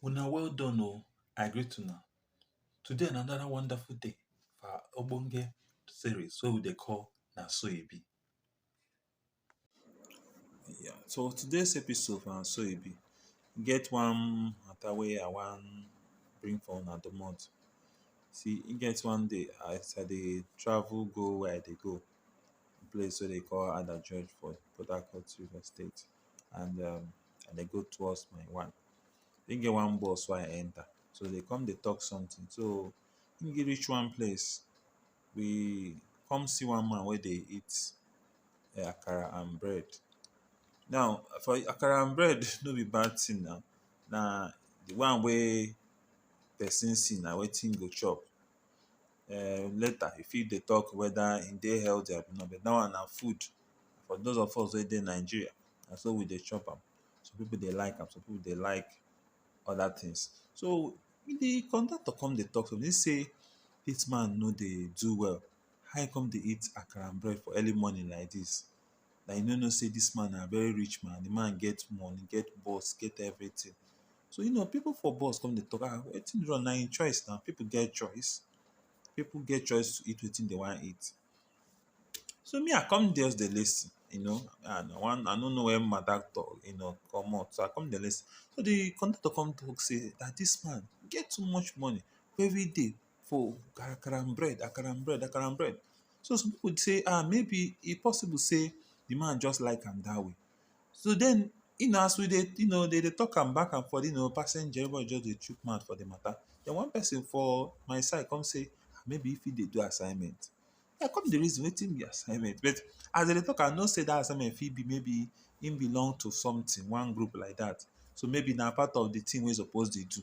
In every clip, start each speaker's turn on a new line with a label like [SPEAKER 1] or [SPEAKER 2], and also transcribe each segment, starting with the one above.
[SPEAKER 1] Una well done o, I greet una. Today na another wonderful day for our ogbonge series wey we dey call Na So E Be. Yeah, so today's episode na so e be. E get one matter wey I wan bring for una domot. See e get one day as I dey travel go where I dey go, the place wey dem call Adajuju for Port Harcourt Rivers State and um I dey go towards my one. E get one bus wey I enter so dem come dey talk something so when e reach one place we come see one man wey dey eat um akara and bread. Now, for akara and bread no be bad thing na. Na the one wey person see na wetin e go chop. um Later, e fit dey talk whether e dey healthy abi no. But dat one na food. For dos of us wey dey Nigeria, na so we dey chop am. Some pipu dey like am, some pipu dey like other things so the conductor come dey talk to me, he say dis man no dey do well how he come dey eat akara and bread for early morning like dis like he no know sey dis man na very rich man, the man get money, get bus, get everything so you know people for bus come dey talk ah wetin dey wrong na im choice na people get choice people get choice to eat wetin dey wan eat So me I come just dey lis ten you know and I wan I no know where matter talk you know comot so I come dey lis ten so de conductor come talk sey dat dis man get too much money for everyday for akara and bread akara and bread akara and bread so some pipu sey um maybe e possible sey de man just like am dat way So den you know as we dey you know dey dey talk am back and forth you know passenger everybody just dey chook mouth for de matter den one person for my side come say maybe im fit dey do assignment I come dey reason wetin be assignment but as dem dey talk am I know sey dat assignment fit be maybe im belong to something one group like dat so maybe na part of de thing wey im suppose dey do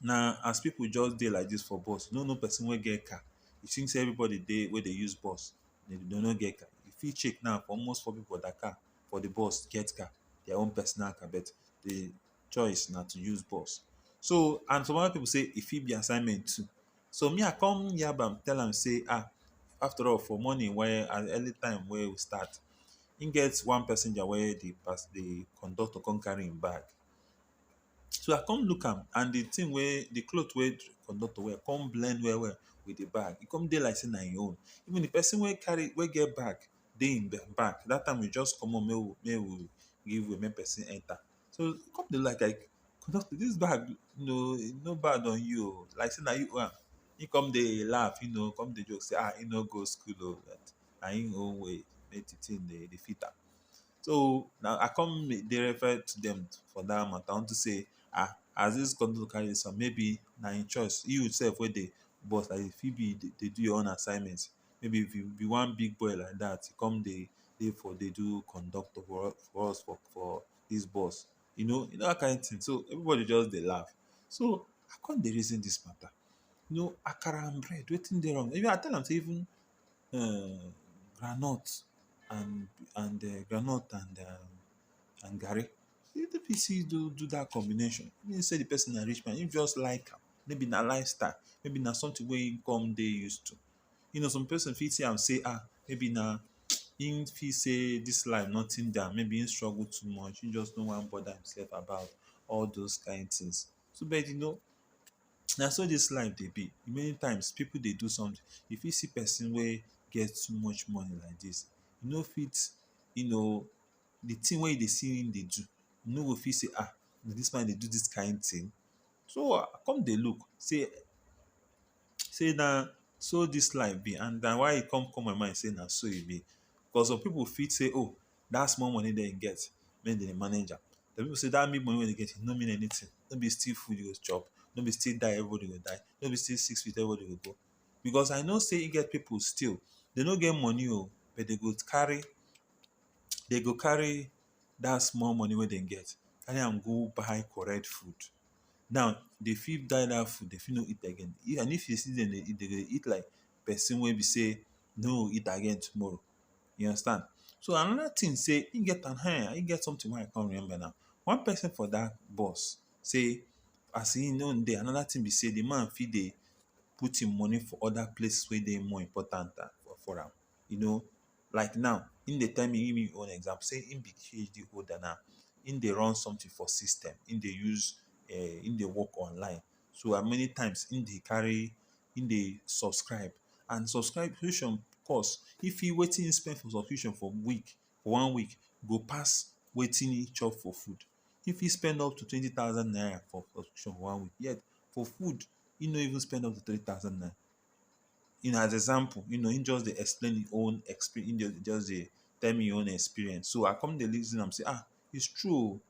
[SPEAKER 1] na as people just dey like this for bus you no know person wey get car you think say everybody dey wey dey use bus dey dey no get car you fit check now for almost four people that car for the bus get car their own personal car but the choice na to use bus so and some other people say e fit be assignment too so me I come yab am tell am say ah after all for morning wey at early time wey we start him get one passenger wey the pass the conductor come carry him bag So I come look am and the thing wey the cloth wey the conductor wear come blend well well with the bag. E come dey like sey na im own. Even the person wey carry wey get bag dey im back. Dat time we just comot make we make we give way make person enter. So e come dey like like conductor dis bag no e no bad on you oh. Like sey na you own am. Im come dey laugh you know, come dey joke sey ha im no go school oh. Na im own way make the thing dey fit am. So now I come make- dey refer to them for that matter unto say ah as this country don carry this one maybe na him choice you sef wey dey boss like this fit be dey do your own assignment maybe if you be one big boy like that you come dey dey for dey do conductor for us for us for for this bus you know you know that kind thing so everybody just dey laugh so I come dey reason this matter you know akara and bread wetin dey wrong even I tell am say even um groundnut and and um groundnut and um and garri you no fit see do do that combination no be sey the person na rich man him just like am maybe na lifestyle maybe na something wey him come dey use to you know some person fit see am sey um maybe na him feel sey this life nothing dey am maybe him struggle too much him just no wan bother himself about all those kind things so but you know na so dis life dey be many times pipu dey do something you fit see person wey get too much money like dis e no fit you know the thing wey you dey see him dey do you no go fit say ah dis man dey do dis kind thing so i come dey look say say na so dis life be and na why e come come my mind say na so e be cause some pipu fit say oh that small money dem get make dem dey manage am some people say that big money wey dem get no mean anything no be still food you go chop no be still die everybody go die no be still six feet everybody go go because I know say e get people still dem no get money oo but dem go carry dem go carry that small money wey dem get carry am go buy correct food now dem fit buy that food dem fit no eat again and if you see dem dey eat dem go dey eat like person wey be say no go eat again tomorrow. You understand? So another thing say he get an hair, he get something wey I come remember now. One person for that bus say as he no dey, another thing be say the man fit dey put him money for other places wey dey more important than for, for am. You know, like now, him dey tell me him him own example say him be PhD holder now, him dey run something for system, him dey use um him dey work online. So and many times him dey carry him dey subscribe and subscription cost if he wetin him spend for subscription for week for one week go pass wetin him chop for food him fit spend up to twenty thousand naira for subscription for one week yet for food him no even spend up to three thousand naira in as example you know him just dey explain him own expe him just dey tell me him own experience so I come dey reason am sey ah it's true oh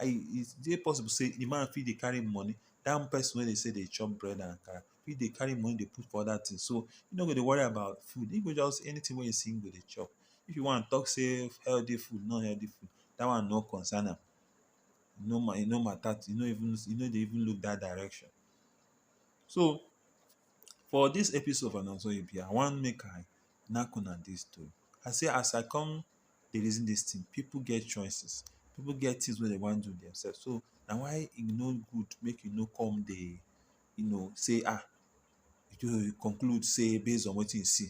[SPEAKER 1] e dey possible sey di man fit dey carry money dat person wey dey sey dey chop bread and akara fit dey carry money dey put for other things so e no go dey worry about food e go just anything wey e see e go dey chop if you wan talk sey healthy food nor healthy food dat one nor concern am e no ma e no matter e no even e no dey even look dat direction so for dis episode of anoda tori be I wan make I knack una dis tori I sey as I come dey reason dis thing, pipu get choices, pipu get things wey dem wan do themselves. So na why e no good make you no come dey you know say um you conclude say base on wetin you see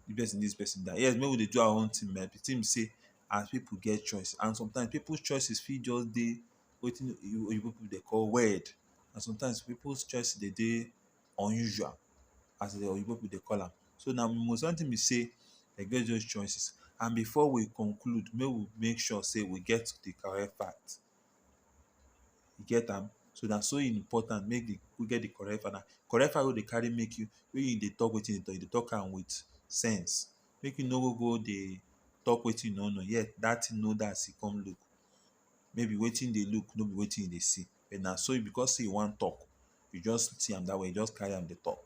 [SPEAKER 1] dis person this person that. Yes make we dey do our own thing but the thing be say as pipu get choice and sometimes pipu choices fit just dey wetin oyibo pipu dey call weird and sometimes pipu choice dey dey unusual as the oyibo people dey call am so na most one thing be say e get those choices and before we conclude make we make sure say we get the correct fact you get am so na so important make the we get the correct fact na correct fact wey dey carry make you make you dey talk wetin you dey talk you dey talk am with sense make you no go go dey talk wetin you no know yet that thing no dey as e come look maybe wetin you dey look no be wetin you dey see but na so because say you wan talk you just see am that way you just carry am dey talk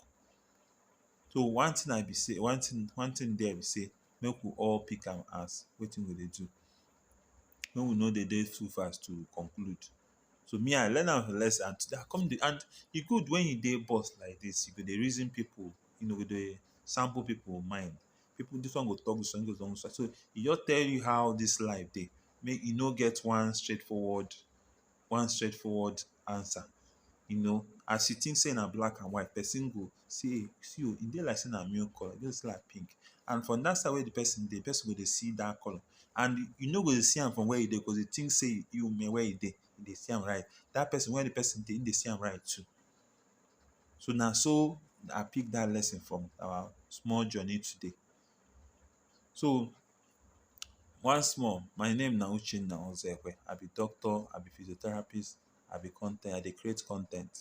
[SPEAKER 1] so one thing i be say one thing one thing there be say make we all pick am as wetin we dey do make we no dey dey too fast to conclude so me i learn am as a lesson and today i come dey and e good when you dey boss like this you go dey reason people you know go dey sample people mind people this one go talk this one this one go talk so e just tell you how this life dey make e no get one straightforward one straight forward answer you know as you think say na black and white person go say see o e dey like say na milk colour e dey say like pink and from that side wey the person dey the person go dey see that colour and you no go dey see am from where you dey because you think say you may where you dey you dey see am right that person where the person dey him dey see am right too so na so I pick that lesson from our small journey today. so once more my name na uchenna ozekhwe i be doctor i be physiotherapist i be con ten t i dey create con ten t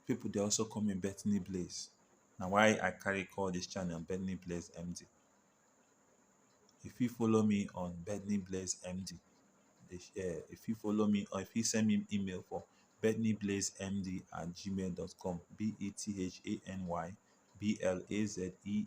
[SPEAKER 1] people dey also call me bethany blaze na why i carry call this channel bethany blaze md you fit follow me on bethany blaze md dey share you fit follow me or you fit send me email for bethnyblaze_md at gmail dot com b e t h a n y b l a z e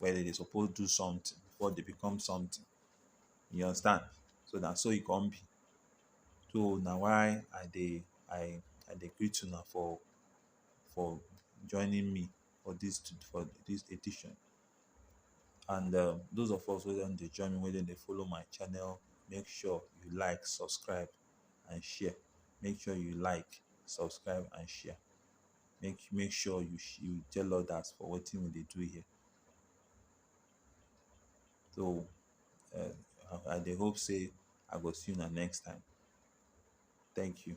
[SPEAKER 1] wey dem dey suppose do something before dem become something you understand so na so e come be so na why i dey i i dey greet una for for joining me for this to for this edition and um those of us wey don dey join me wey don dey follow my channel make sure you like subscribe and share make sure you like subscribe and share make you make sure you you tell others for wetin we dey do here. So um I dey hope sey I go see una next time. Thank you.